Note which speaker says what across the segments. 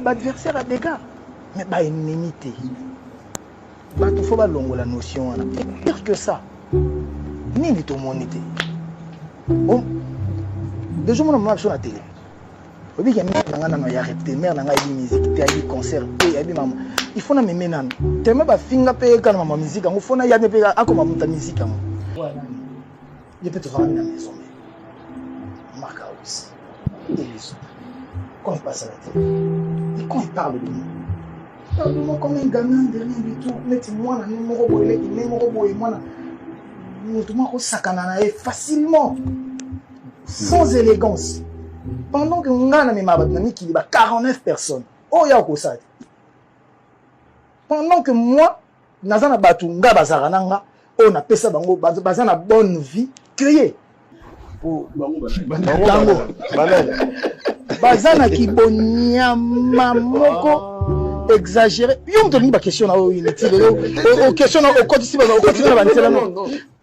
Speaker 1: ba adversaire ya dega mais ba ennemi te bato fo balongola notion wana et pire que ça nini tomoni te deja omona mama biso na tele obiki ya mare na ngai nano ya rep te mare na ngai ayebi musique te ayebi concert te ayebi mama il faut na meme nano teme bafinga mpe eka na mama musique yango fo nayambi mpe akoma moto ya musique yango Ye mpe tofandaki na maison me maka awisi eliso quand il passe à la télé et quand il parle de moi parle de moi comme un gamin de rien du tout neti mwana ne moko boye leki ne moko boye mwana moto moko akosakana na ye facilement sans élégance pendant que ngai namema bato na mikili ba 49 personnes oyo ya okosala te pendant que moi naza na bato nga bazalaka na nga oyo napesa bango baza na bonne vie cree bango baza na kibonyama moko exagéré yo moto olingi baquestion na oyo inutile oquestion na okotisi okotisi na banzela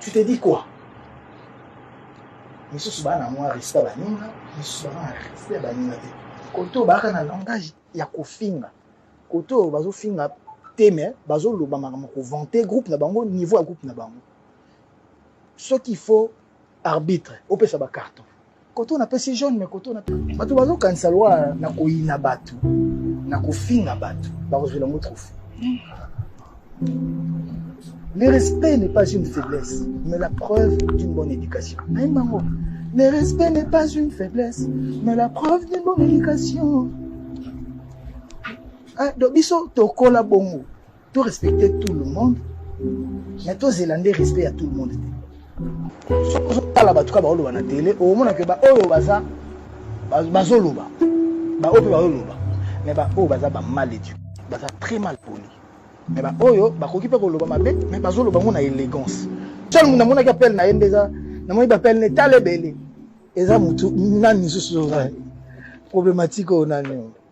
Speaker 1: tu te dis quoi misusu baa na mwa respect ya baninga misusu baa na respect ya baninga te kote oyo baaka na langage ya kofinga kote oyo bazofinga te me bazoloba makambo kovante groupe na bango niveau ya groupe na bango soki faut arbitre opesa ba carton koto na pesi jaune mais koto na bato bazokanisa lwa na koyina bato na kofinga bato bakozwela yango trophée le respect n'est pas une faiblesse mais la preuve d'une bonne éducation nayemba yango le respect n'est pas une faiblesse mais la preuve d'une bonne éducation Ah, donc biso tokola bongo To respecter tout le monde, mais to zela nde respect ya tout le monde te. Soki ozotala bato kaka baoloba na tele, omona ke baoyo baza bazoloba, baoyo mpe bazoloba, mais baoyo baza ba mal éduqués, baza très mal poli, mais baoyo bakoki mpe koloba mabe, mais bazoloba yango na élégance. Seul moto namonaki appel na ye nde eza namoni bapele na etala ebele eza motu nani lisusu oza problématique oyo nani oyo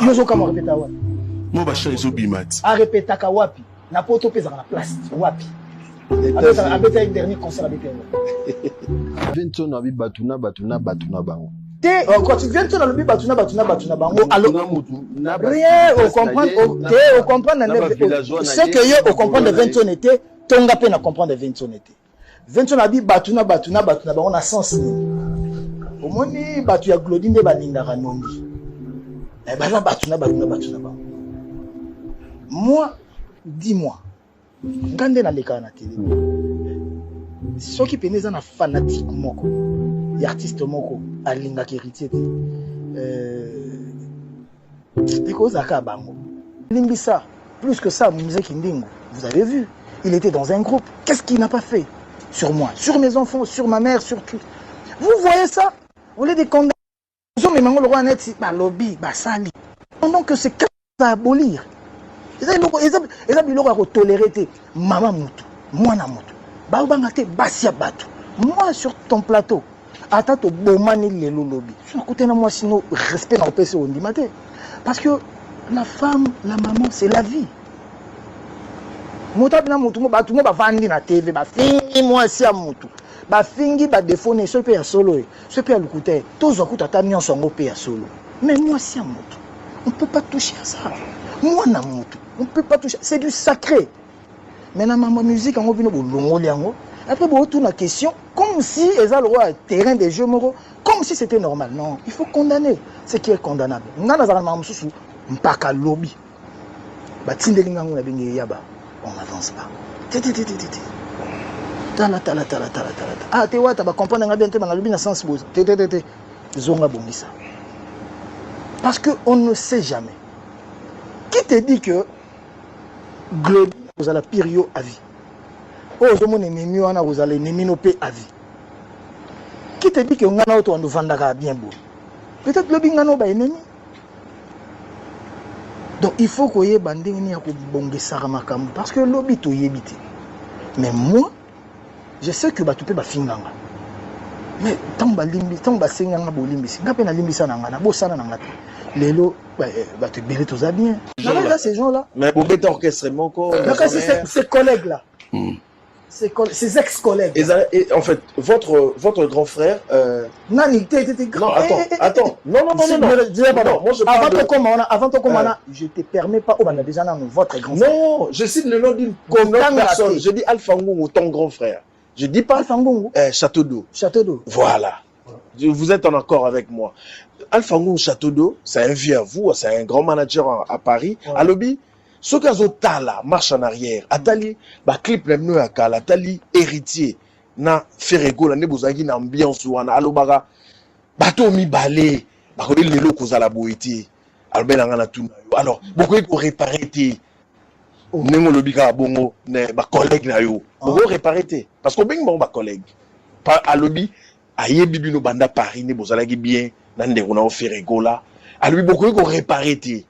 Speaker 1: yo ozokamwa repeta wapi mo bachan
Speaker 2: ezobima ti arepetaka wapi
Speaker 1: na poto mpe ezaka na place wapi abeta une dernier concert avec yango vincent na
Speaker 3: bi bato na bato na bato na bango te quand
Speaker 1: vincent nalobi bato na bato na bato na bango rien ocomprendre te ocomprendre na ce que yo ocomprendre vincent te tonga mpe na comprendre vincent te Vincent abi bato na bato na bato na bango na sens nini omoni bato ya glodi nde balingaka nongi eh, baza bato na bato na bato na bango moi dis moi nga nde nalekaka na tele soki mpena eza na fanatike moko ya artiste moko alingaka héritier te euh, ekozala kaka bango limbisa plus que ça mzee kindingu vous avez vu il était dans un groupe qu'est-ce qu'il n'a pas fait sur moi sur mes enfants sur ma mère sur tout vous voyez ça au lieu de condamner ozomema yango lokola neti balobi basali pendant que c'est à abolir eza eloko eza eza biloko ya kotolere te mama motu mwana motu baobanga te basi ya bato moi sur ton plateau ata tobomani lelo lobi so nakutani na mwasi no respect na kopesa ondima te parce que la femme la maman c'est la vie moto abina motu bato mo bavandi na tv bafingi mwasi ya motu bafingi badefo ne soki mpe ya solo ye soki mpe ya lokuta ye tozwa kutu ata nyonso yango mpe ya solo mais mwasi ya motu on peut pas toucher à ça mwana motu on peut pas toucher c'est du sacré mais na mambo ya musique yango bino bolongoli yango après bootuna question comme si eza lokola terrain de jeu moko comme si c'était normal non il faut condamner ce qui est condamnable ngai nazalaka na makambo mosusu mpaka lobi batindeli ngai yango na benge eyaba on avance pas tititititi tala tala tala tala tala ah te wata bacomprendre ngai bien te bangalobi na sens boza te te te te zonga bongisa parce que on ne sait jamais qui te dit que Glody kozala pire yo à vie. Oyo ozomona enemi wana kozala enemi no pe à vie. Qui te dit que ngana oyo towanda ofandaka bien boye? Peut-être lobi ngana oyo ba enemi. Donc il faut koyeba ndenge nini ya kobongisaka makambo parce que lobi toyebi te. Mais moi Je sais que batu pe bafinganga. Mais tango balimbi, tango basenganga bolimbisi, nga pe nalimbisa na nga, nabosana na nga te. Lelo eh, batu ebele toza bien. Nanga ces gens là. Mais bobeta orchestre
Speaker 3: moko. Naka c'est ces
Speaker 1: collègues là. Mm. Ses, ses ex-collègues. En fait,
Speaker 3: votre, votre grand frère euh, nani te
Speaker 1: te te non attends
Speaker 3: eh, eh, eh, attends non non non non non pardon moi je avant to koma wana avant to koma na
Speaker 1: je te permets pas obanda déjà nanu votre grand frère non je cite le nom
Speaker 3: d'une personne je dis Alpha Ngungu ton grand frère je dis pas Alpha Ngungu eh château
Speaker 1: d'eau château
Speaker 3: d'eau voilà vous êtes en accord avec moi Alpha Ngungu château d'eau c'est un vieux à vous c'est un grand manager à Paris alobi soki azotala marche en arrière atali baclip na bino ya kala atali héritier na Ferre Gola nde bozalaki na ambiance wana alobaka bato mibale bakoki lelo kozala boye te alobela ngai na tuna yo alors bokoki korepare te oh. ndenge olobi kaka bongo bacollègue na yo ah. bokoki korepare te parce que obengi bango bacollègue alobi ayebi bino banda paris nde bozalaki bien na ndeko na yo Ferre Gola alobi bokoki korepare te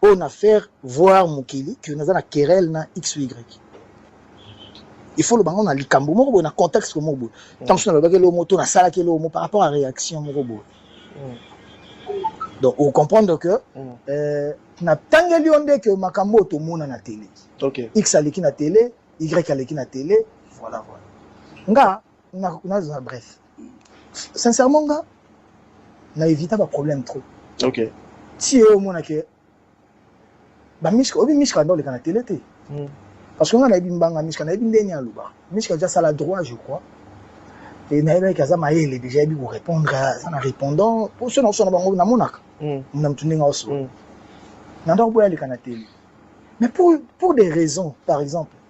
Speaker 1: po na faire voir mokili que naza na querelle na xy il faut loba ngo na likambo moko boye na contexte moko boye mm. tango so nalobaki eloko moko to nasalaki eloko moko par rapport à réaction moko boye mm. donc ocomprendre que mm. euh, natangeli yo nde ke makambo oyo tomona na tele okay. x aleki
Speaker 3: na tele
Speaker 1: y aleki na tele voilà voilà nga Na na za bref. Sincèrement nga na évita ba problème trop. OK.
Speaker 3: Ti yo
Speaker 1: mona ke ba mishka obi mishka ndole kana télé te. Mm. Parce que nga na ebi mbanga mishka na ebi ndeni aluba. Mishka ja sala droit je crois. Et na ebi kaza mayele déjà ebi ko répondre ça na répondant pour ceux na sona bango na monaka. Mm. Na mtundi nga oso. Mm. Na ndako boya le kana télé. Mais pour, pour des raisons, par exemple,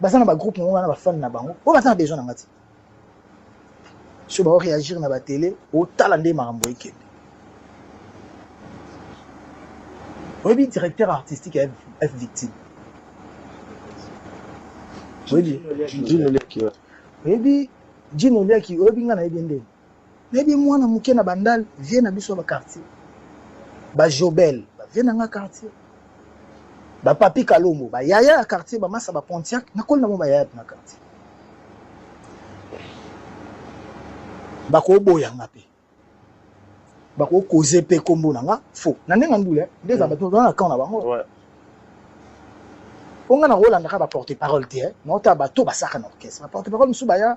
Speaker 1: baza na ba groupe nango wana bafani na bango oyo baza na besoin na nga ti so bao réagir na batele otala nde makambo ekende oyebi directeur artistique ya f victime oyebi jino liaki oyebi ngai nayebi ndenge Nayebi mwana muke na bandal vieux na biso ya ba quartier ba jobel ba vieux na nga quartier ba papi kalombo ba yaya ya quartier ba masa ba pontiac nakoli na bango ba yaya na quartier bakoboya nga mpe bakokoze mpe nkombo na nga fo na ndenge ya ndule nde eza bato na camp na bango mpo nga nakolandaka baporte parole te naotala bato basaka na orchestre baporte parole mosusu baya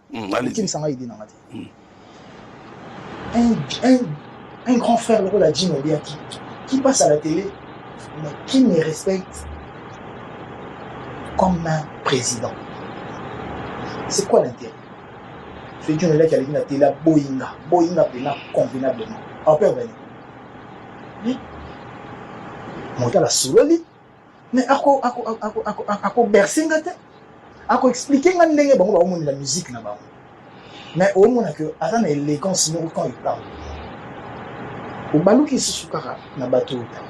Speaker 1: okimisa ngai ide na nga te un grand frère lokola jim obiaki qui passe à la télé mais qui me respecte comme un président c'est quoi l'intérêt feti olelaki aleki na tela boyinga boyinga mpena convenablement apevani motala sololi mais ako ako ako ako ako berse nga te ako expliquer nga ndenge bango ba omoni la musique na bango mais au moins que aza na élégance moko quand il parle obaluki lisusu kaka na bato oyo ta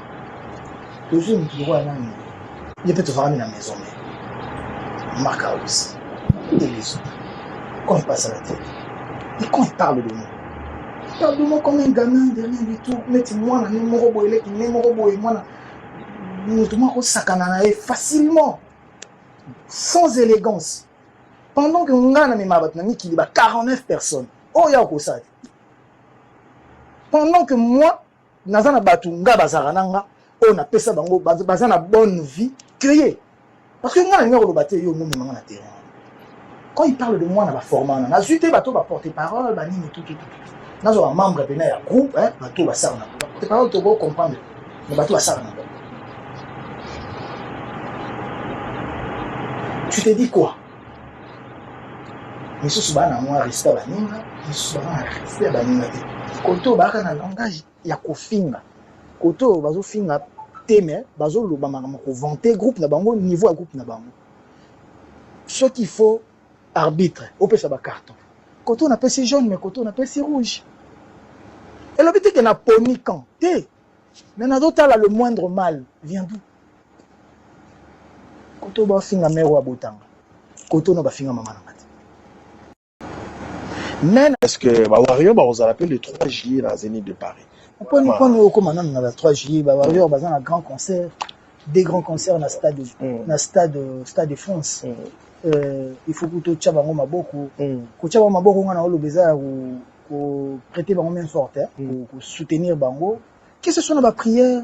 Speaker 1: tozwi motu lokola nani ye mpe tofakami na maison me maka aussi et les autres quand il passe à la tête et quand il parle de nous parle de moi comme un gamin de rien du tout neti mwana ne moko boye leki ne moko boye mwana moto moko akosakana na ye facilement sans élégance pendant que ngai namema bato na mikili ba 49 personnes oyo ya okosala pendant que moi naza na bato ngai bazalaka na nga oyo napesa bango baza na bonne vie que ye Parce que nga nalingi koloba te yo omomema nga na terrain quand il parle de moi na baforma wana nazwi te bato baporte parole banini tututu nazwa bamembre mpena ya groupe bato basala na porte parole toko comprendre me bato basala na bango tu te dis quoi misusu baa na mwa respect baninga misusu baa na respect baninga te koto baaka na langage ya kofinga kote oyo bazo finga te mais bazo loba makambo ko vante groupe na bango niveau ya groupe na bango soki il faut arbitre opesa ba carton kote oyo napesi jaune mais kote oyo napesi rouge elobi te ke na poni camp te mais nazotala le moindre mal vient d'où kote oyo bafinga mero ya botanga kote oyo na bafinga mama na nga te mais est-ce que ba warrior
Speaker 3: ba ozala pe le 3 juillet na Zenith de Paris poni poni
Speaker 1: okoma nanu na la 3 juillet ba warrior baza na grand concert des grands concerts na stade mm. na stade stade de France mm. euh, il faut kuto tya bango maboko mm. kotya bango maboko nga na oloba eza ya ko prêter bango main forte eh? mm. ko soutenir bango que ce soit na ba prière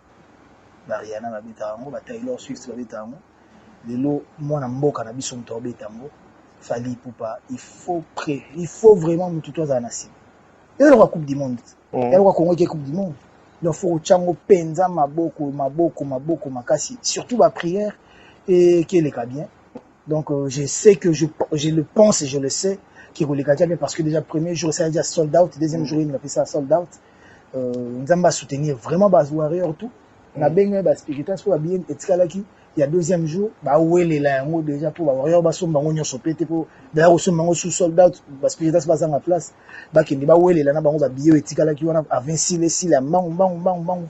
Speaker 1: bariana babetaka yango bataylor swift babetaka yango lelo mwana mboka na biso moto abeta yango fali pupa il faut pré il faut vraiment motu to azala na nsima eloka coupe du monde mm. eloka kongo eke coupe du monde donc faut kotya yango mpenza maboko maboko maboko makasi surtout baprière eke eleka bien donc euh, je sais que je, je le pense et je le sais kekoleka tya bien parce que déjà premier jour esala déjà sold out deuxième mm. jour emi bapesa sold out mm. Euh, nzambe a soutenir vraiment ba warrior tout mm. na bengi ba spiritas po bien etikalaki ya deuxième jour ba welela yango déjà po ba warrior ba somba ngo nyoso pete po d'ailleurs osomba ngo sous sold out ba spiritas ba zanga place ba kende ba welela na bango ba billet etikalaki wana à 26 les six la mangu mangu mangu mangu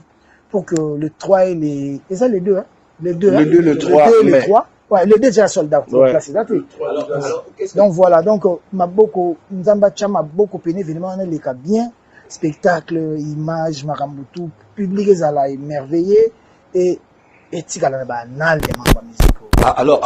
Speaker 1: pour que le 3 et les et ça les deux hein les deux le
Speaker 3: hein, 2 le 3 le
Speaker 1: 2 le 3 Ouais, le déjà sold out. Ouais. Donc, là, alors, alors, donc voilà, donc euh, Maboko, Nzamba Chama, Boko Pene, évidemment, on est les cas bien. spectacle image makambo tout public ezala emerveille et etikala
Speaker 2: na
Speaker 1: ba annales ya makambo ya musique oyo. Ah, alors,